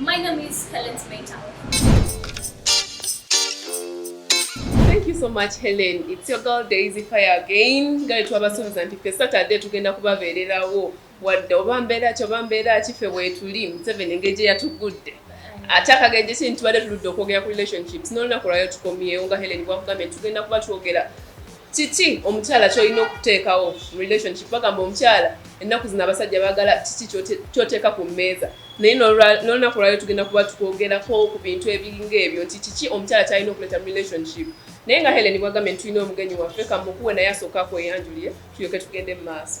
My name is Helen Smeta. Thank you so much Helen. It's your girl Daisy Fire again. Gale twabasuubiza nti ffe Saturday tugenda kubabeererawo wadde oba mbeera ki oba mbeera ki ffe weetuli Museveni engeri gye yatugudde ate akagenje kini tubadde tuludde okwogera ku relationships n'olunaku lwayo tukomyewo nga Helen bwakugambye tugenda kuba twogera Kiki omukyala kyolina okuteekawo mu relationship? Bagamba omukyala ennaku zino abasajja baagala kiki kyoteeka ku mmeeza, naye n'olunaku lwalyo tugenda kuba tukwogerako ku bintu ebiringa ebyo nti kiki omukyala kyalina okuleeta mu relationship. Naye nga Helen bwagambye nti tulina omugenyi waffe kamukuwe naye asooke akweyanjulire tulyoke tugende mu maaso.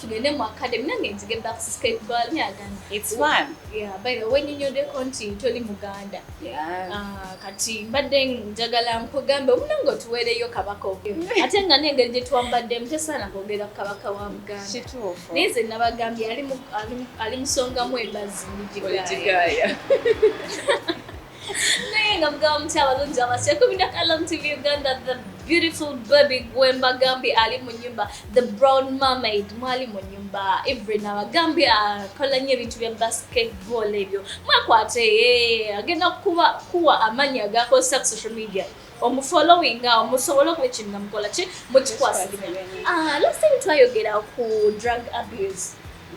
tugende mu academy nange nzige back to skateball yagana it's fun yeah by the way ninyode konti toli muganda yeah uh, kati mbadde njagala nkugambe omunange otuweereyo kabaka ogyo ate nga nengeri gye twambadde mutesaana kwogera ku kabaka wa muganda kituufu naye nze nabagambye ali musongamu embazi nigigaya naye nga mugaba muti abalungi abasya kumi na kalam tv uganda the beautiful baby gwemba gambi ali mu nyumba the brown mermaid mwali mu nyumba evelyn abagambi akola nnyo ebintu bya basketball ebyo mwakwate eh, agenda kuba kuwa amaanyi agakozesa ku social media omufollowing awo musobole okuba ekintu namukola ki mukikwasagina ah, last time twayogera ku drug abuse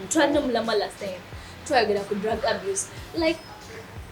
twalina omulama last time twayogera ku drug abuse like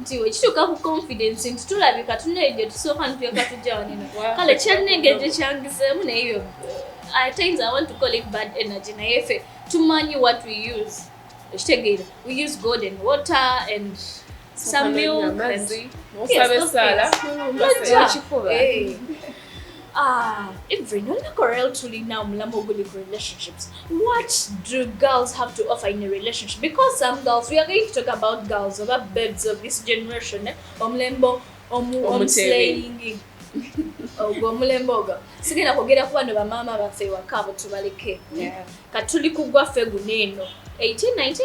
nti wekituuka ku confidence nti tulabika tunayo gye tusooka nituyaka tujja waneno kale kyalina engeri gye kyangizeemu naye yo at times i want to call it bad energy naye ffe tumanyi what we use ekitegeera we use gold and water and some milk and, yes, those things. Ah, even on Corel truly now Mlamoguli relationships. What do girls have to offer in a relationship? Because some girls, we are going to talk about girls, about birds of this generation, eh? Omlembo, omu, om slaying. ogwo omulembe ogwo sigenda kwogera kuba no bamaama baffe ewaka abo tubaleke katuli kugwa ffe guno eno 1819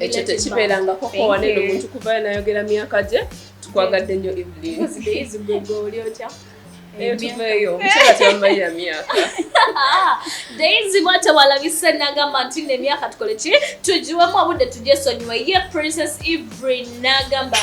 ekyo tekibeerangako kowa neno omuntu kuvayo nayogera myaka gye tukwagadde nnyo evelyn eyo tuveeyo omukyala tebamumalira myaka daisy bwatyo walabise nagamba nti no emyaka tukole ki tugiwemu obudde tujesonyiwe ye princess evelyn nagamba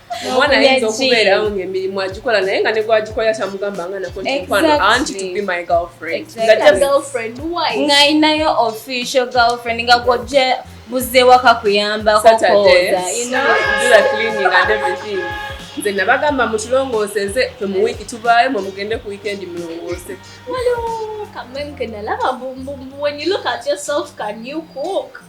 omwana ayinza okubeera ngaemirimu agikola naye nga negwagikolera kyamugamba nga nakontikwanoantiinayinayo official girlfriend nga gwoje buzze waka kuyambako nze nabagamba mutulongoose nze fe mu wiiki tuvaayo mwe mugende ku wiikendi mulongoose Come on, can I love a boom boom? When you look at yourself, can you cook?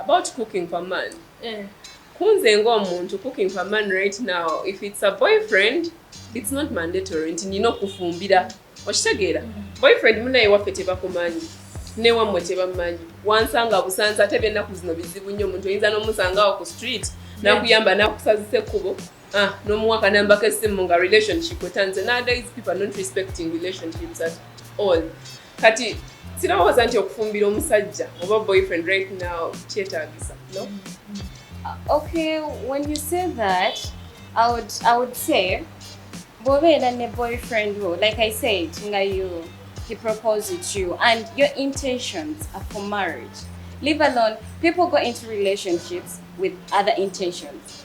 about cooking for man eh. kunze nga omuntu cooking for man right now if it's a boyfriend it's not mandatory nti nina okufumbira okitegeera mm. boyfriend munaye waffe tebakumanyi newammwe tebamanyi wansanga busanza ate byennaku zino bizibu nnyo omuntu oyinza n'omusangawo ku street nakuyamba nakusazisa ekkubo ah, nomuwa kanambako esimu nga relationship otanze nowadays people are not respecting relationships at all kati sirowooza nti okufumbira omusajja oba boyfriend right now kyetaagisa no uh, okay when you say that i would, I would say bwobeera ne boyfriend wo like i said nga you he proposed it you and your intentions are for marriage leave alone people go into relationships with other intentions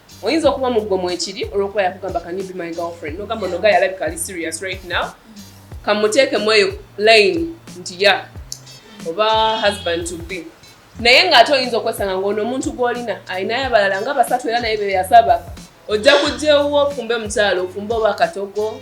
oyinza okuba mu ggwe mwekiri olwokuba yakugamba can you be my girlfriend nogamba onoga yalabika ali serious right now kamuteekemu eyo line nti ya oba husband to be naye ng'ate oyinza okwesanga ng'ono omuntu gw'olina alinayo abalala nga basatu era naye beyasaba ojja kujja ewuwo ofumbe mukyalo ofumbe oba akatogo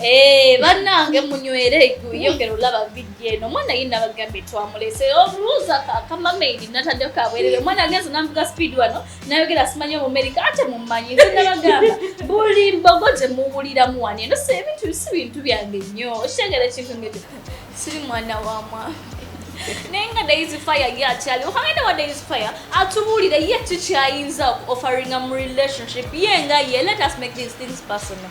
Eh, bannange munywere yongera olaba vidiyo eno omwana ye nabagambye twamulese obuuza akamamaidi natadde kabwerere omwana agenze nambuga speed wano nayogera simanyi omumerika ate mumanyi nze nabagamba buli mbogo gye muwuliramu wano eno se ebintu si bintu byange nnyo okitegera ekintu ngekyo siri mwana wa mwami naye nga daisy fire ye akyaliwo kangenda wa daisy fire atubuulire ye kikyayinza okuofferinga mu relationship ye nga ye let us make these things personal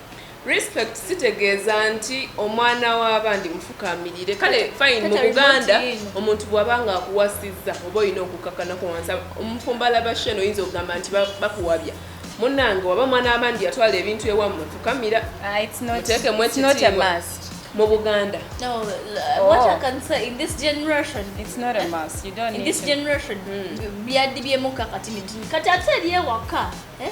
Respect sitegeeza nti omwana w'abandi mufukaamirire. Kale fine mu Buganda omuntu bw'aba ng'akuwasizza oba olina okukakkanako wansi. Omufumbo alaba Shane oyinza okugamba nti bakuwabya. Munnange waba mwana w'abandi yatwala ebintu ewammwe fukamira ah, muteekemu ekitiibwa. mu Buganda. No, uh, oh. what I can say in this generation. It's not a must. You don't in need this to. generation. Mm. Byadibye muka kati mitini. Kati ate liye waka. Eh?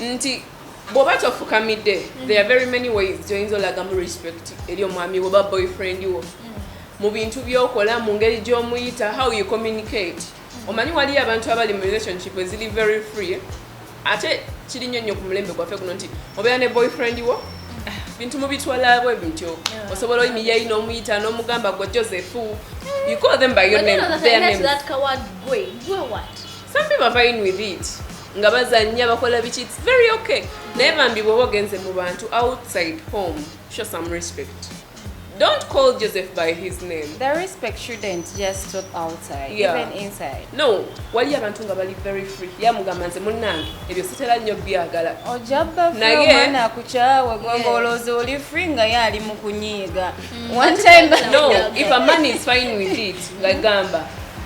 nti bwoba tofukamidde mm. there are very many ways gyoyinza olagamu respect eri omwami woba boyfriend wo mm. mu bintu byokola mu ngeri gyomuyita how you communicate mm. omanyi waliyo abantu abali mu relationship eziri very free ate kiri nnyo nnyo ku mulembe gwaffe guno nti obeera ne boyfriend wo bintu mubitwalabwe bityo osobola oyimiyayi n'omuyita n'omugamba gwe joseph you call them by your name, their names. That coward boy, boy what? some people are fine with it nga bazanya bakola biki it's very okay naye bambi bwoba ogenze mu bantu outside home show some respect don't call joseph by his name the respect shouldn't just stop outside yeah. even inside no waliyo abantu nga bali very free yamugamba nze munnange ebyo sitera nnyo byagala ojabaomwana akukyawe gwanga olowooza oli free nga ye ali mu kunyiiga mm. one time no if a man is fine with it ngagamba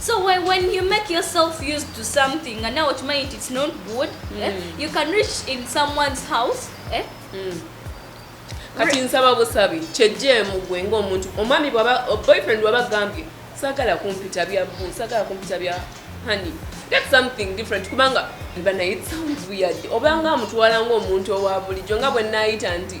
so why when you make yourself used to something and now okimanyi nti it's not good mm. eh? Hmm. you can reach in someone's house eh? mm. kati nsaba busabi kyejjeemu gwe ngaomuntu omwami boyfriend waba gambye sagala kumpita bya bu sagala kumpita bya honey get something different kubanga banaye it sounds weird obanga amutwala ngaomuntu owa bulijjo nga bwe naayita nti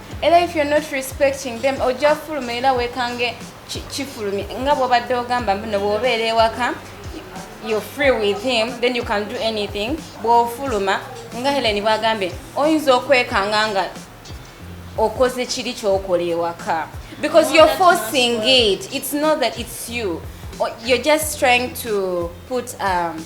era if you're not respecting them ojja fuluma era wekange kifulumi nga bwobadde ogamba mbino bwobeera ewaka you're free with him then you can do anything bwofuluma nga helen bwagambye oyinza okwekanga nga okoze kiri kyokola ewaka because you're forcing it it's not that it's you you're just trying to put um,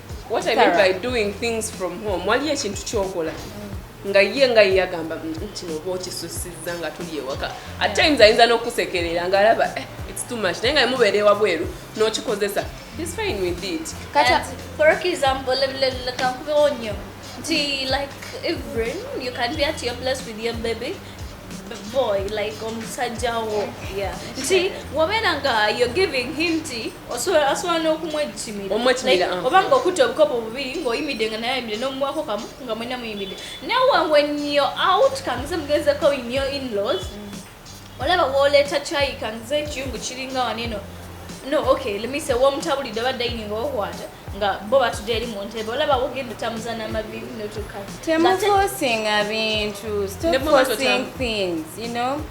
what i mean by doing things from home waliyo ekintu kyokola nga ye nga yeyagamba kino oba okisusiza nga tuli ewaka at times ayinza n'okusekerera nga alaba eh, it's too much naye nga emubeera ewabweru n'okikozesa is fine with it kata for example kankubewo nnyo nti like even you can be at your place with your baby boy like omusajja wo yeah. nti wabeera nga you're giving him nti asobola n'okumwejjimira uh-huh. oba nga okutta obukopo bubiri ng'oyimidde nga naye ayimidde n'omuwako kamu nga mwena muyimidde nawe when you're out kangize mugezeko in your inlaws mm. olaba woleeta kyayi kangize ekiyungu kiringa waneno no okay let me say womutabulidde oba dining okwata nga bo batudde eri mu ntebe olaba wogenda otambuza n'amavivi notuka temufosinga bintu stop forcing things you know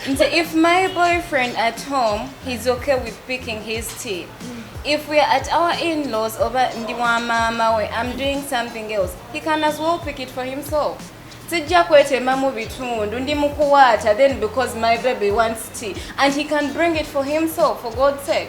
nze if my boyfriend at home he's okay with picking his teeth mm. if we're at our in-laws oba ndi wa maama we i'm doing something else he can as well pick it for himself sijja kwetemamu bitundu ndi mukuwaata then because my baby wants tea and he can bring it for himself for god's sake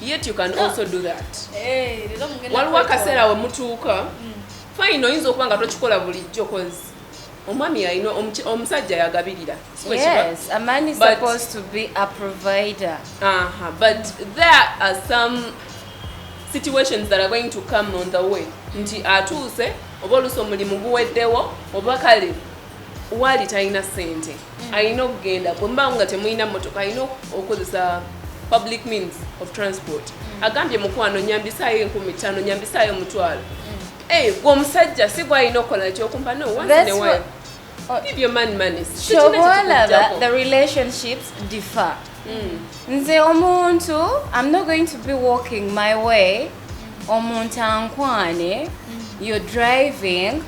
yet you can ah. also do that eh, waliwo akaseera we mutuuka hmm. fine oyinza okuba nga tokikola bulijjo kozi omwami alina omusajja yagabirira but there are some situations that are going to come on the way nti atuuse oba oluusi omulimu guweddewo oba kale waali talina sente alina okugenda bwemubanga nga temulina motoka alina okozesa public means of transport mm. agambye mukwano nyambisaayo enkumi tano nyambisaayo omutwalo mm. eh, gwe omusajja si gwalina okukola nti okumpa no oncenewa oh. give your man money kyoboolaba the relationships differ mm. nze omuntu i'm not going to be walking my way omuntu ankwane you're driving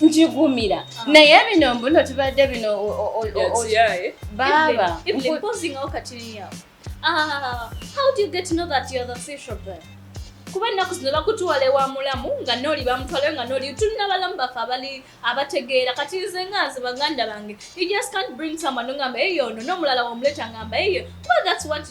njigumira naye bino mbuno tubadde bino baaba ah, kuba ennaku zino bakutwala ewa mulamu nga nooli bamutwalayo nga nooli tulina balamu baffe abali abategeera kati nze nga nze baganda bange you just can't bring someone ngamba eyo ono nomulala womuleta ngamba eyo well that's what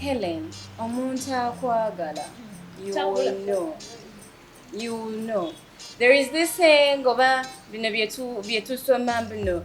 helen omuntu akwagala you know there is this saying oba bino byetusoma bino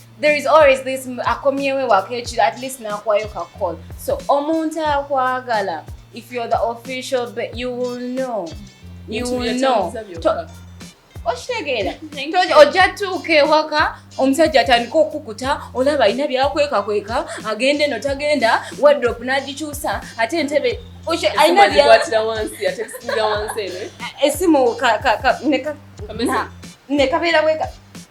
there is always this akomyewe wakechira at least nakwayo ka call so omuntu akwagala if you're the official but you will know you will know okitegeera ojja tuuka ewaka omusajja atandika okukuta olaba alina byakwekakweka agenda eno tagenda wadrop nagikyusa ate entebe esimu nekabeera weka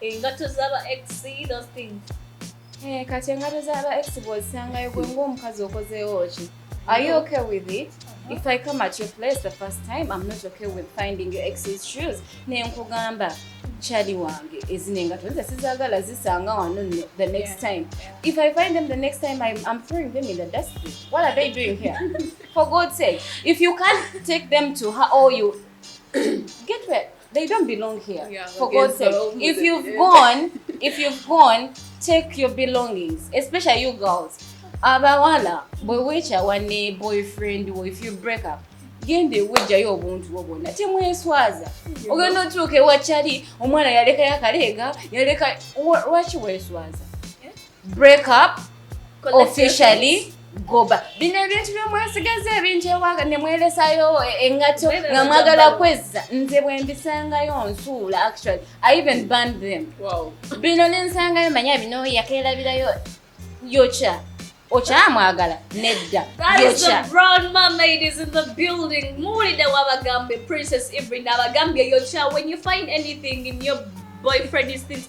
engato zaba ex those things eh kati engato zaba ex bwozisangayo gwe ng'omukazi okozeewo ki are you okay with it uh-huh. if i come at your place the first time i'm not okay with finding your ex's shoes naye nkugamba chali wange ezino engato nze sizagala zisanga wano the next time if i find them the next time i'm, I'm throwing them in the dustbin what are they doing here for god's sake if you can't take them to her or you get wet they don't belong here yeah, for God's sake if you've gone if you've gone take your belongings especially you girls abawala bwe weekyawa ne boyfriend wo if you break up genda ewejjayo obuntu bwo bwonna temweswaza ogenda otuuka ewakyali omwana yalekayo akaleega yaleka lwaki weswaza break up officially goba bino ebintu byomwesigaza ebingi ewaga nemwelesayo engato nga mwagala kwezza nze bwembisangayo nsuula actually i even band them bino nensangayo manya bino yakelabirayo yoca okyamwagala nedda muwulidde wabagambye princess evelyn abagambye yoca when you find anything in your boyfriend is things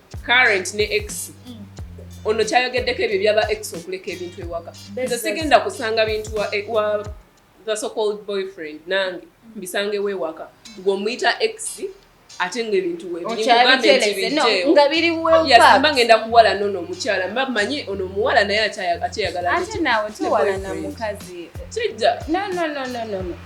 current ne ex mm. ono kyayogeddeko ebyo byaba ex okuleka ebintu ewaka nze sigenda kusanga bintu wa, e, wa the so called boyfriend nange mm. mbisangewo ewaka ng'omuyita ex ate nga ebintu webiinga biri weyasamba ngenda kuwala nono omukyala mba manyi ono omuwala naye akyeyagala ate nawe tuwalana mukazi kijja no no no no no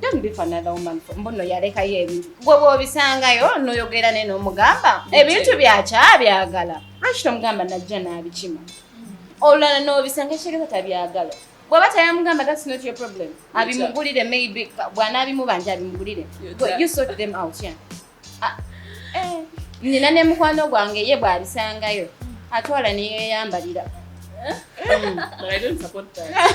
Don't be for another woman for mbono yaleka ye ebintu. Gwe bwobisangayo noyogera ne nomugamba ebintu byakyabyagala. Lwaki tomugamba najja n'abikima? Olulala n'obisanga ekitegeeza tabyagala. Bw'aba tayamugamba that's not your problem. Abimugulire maybe bw'anaabimubanja abimugulire. You sort them out, yeah. Ah, eh, nina ne mukwano gwange ye bwabisangayo atwala neyeyambalira Mm. But I don't support that.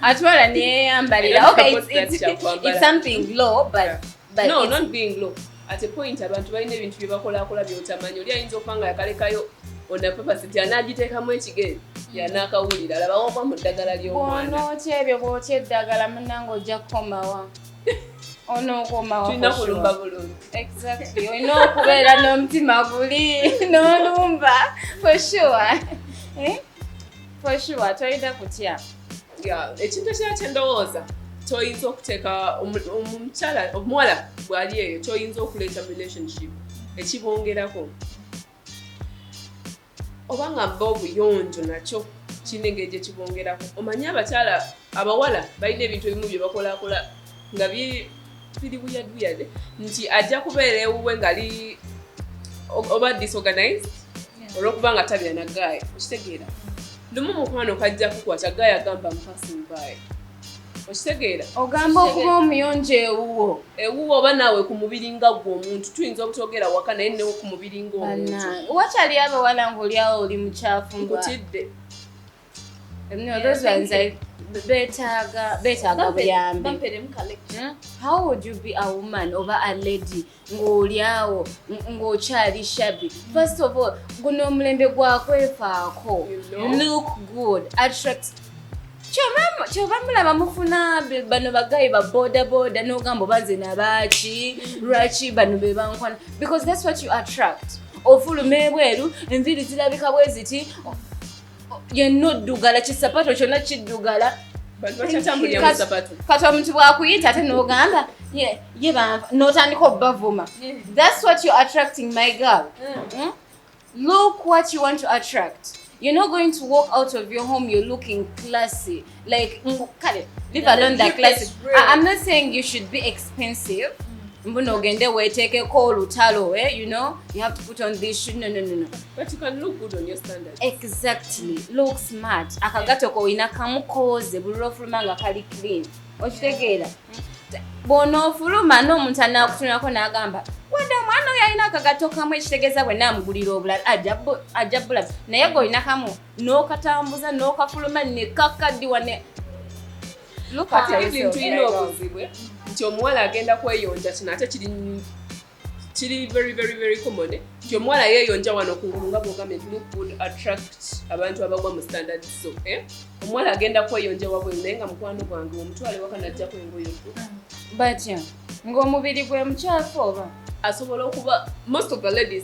Atwala ni yeye ambalira. Okay, it's, it's, it's something low but yeah. but No, it's... not being low. At a point abantu balina ebintu bye bakola akola by'otamanyi. Oli ayinza okubanga yakalekayo on the purpose nti anaagiteekamu ekigere yanaakawulira alabawo oba mu ddagala ly'omwana. Bw'onookya ebyo bw'okya eddagala munnange ojja kukomawa. onokomaotulina kulumba bulungi exactly olina okubeera n'omutima guli n'olumba for sure eh? for sure tolina kutya ekintu ekira kyendowooza toyinza okuteeka omukyala omuwala bwali eyo toyinza okuleeta relationship ekibongerako oba nga bba obuyonjo nakyo kirina engeri gye kibongerako omanyi abakyala abawala balina ebintu ebimu bye bakolakola nga biri buyaduyade nti ajja kubeera ewuwe ngali oba disorganized olwokuba nga tabira nagaaya okitegeera lumu mukwano kajja kukwata gaaya gamba mpasing by okitegeera ogamba okuba omuyonjo ewuwo ewuwo oba naawe ku mubiri nga gwe omuntu tuyinza obutogera waka naye newo ku mubiri ngaomuntu wakyali abawala ngaolyawo oli mukyafu nkutidde betaaga buyambi hmm? how would you be a woman oba a lady ng'oli awo ng'okyali shabby first of all guno omulembe gwakwefaako look good attract kyova mulaba mufuna bano bagayi ba boda boda nogamba oba nze nabaaki lwaki bano bebankwana because thats what you attract ofuluma ebweru enviri zirabika bweziti yenna oddugala kisapato kyonna kiddugala kati omuntu bwakuyita ate nogamba ye banva notandika obubavuma thats what you're attracting my girl mm. Hmm? look what you want to attract you're not going to walk out of your home you're looking classy like mbu kale leave alone the class i'm not saying you should be expensive mm. mbu nogende weteekeko olutalo eh? you know you have to put on this shoe no no no no but you can look good on your standard exactly look smart akagato ko ina kamukoze buliro fuluma nga kali clean okitegeera mm. bw'onoofuluma n'omuntu anaakutunulako n'agamba wade omwana oyo alina akagato kamu ekitegeeza bwe naamugulira obulala ajja bulaba naye gwe olina kamu n'okatambuza n'okafuluma ne kakaddiwa ne kati ebintu tulina obuzibwe nti omuwala agenda kweyonja kino ate kiri kiri very very very common eh? nti omuwala yeeyonja wano kungulu nga bwogambye nti look would attract abantu abagwa mu standard so eh? omuwala agenda kweyonja wabweru naye nga mukwano gwange omutwale waka najjako engoyo batya ng'omubiri gwe mukyafu oba asobola okuba most of the ladies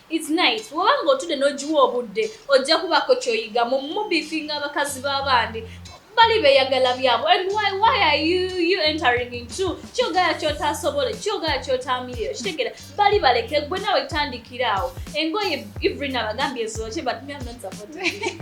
It's nice woba nga otude nojiwa obudde ojja kubako kyoyiga mu mubifinga abakazi babandi bali beyagala byabo and why why are you you entering into kyogala kyotasobole kyogala kyotamiyo kitegera bali baleke gwe nawe tandikira awo engoye ivrina bagambye zoche but me am not supporting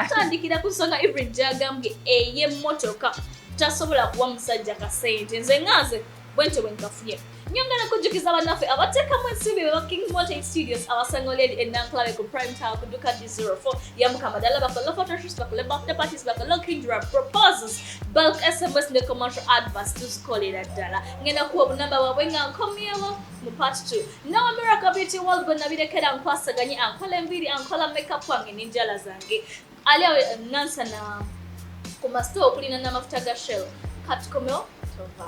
tandikira ku nsonga ivrin gyagambye eye motoka tasobola kuwa musajja kasente nze nganze bwentyo bwe nkafunye nyongera kujjukiza bannaffe abateekamu ensimbi beba king mountain studios abasango lady enankulabe ku prime tower ku duka d04 yamukama ddala bakole photoshoot bakole birthday parties bakole kindra proposals bulk sms ne commercial advers tuzikolera ddala ngenda kuwa obunamba bwabwe nga nkomyewo mu part 2 nawa miracle beauty world gwe nabirekera nkwasaganye ankola enviiri ankola makeup wange n'enjala zange Ali awe nansana ku masito okulina n'amafuta ga shell katukomewo tova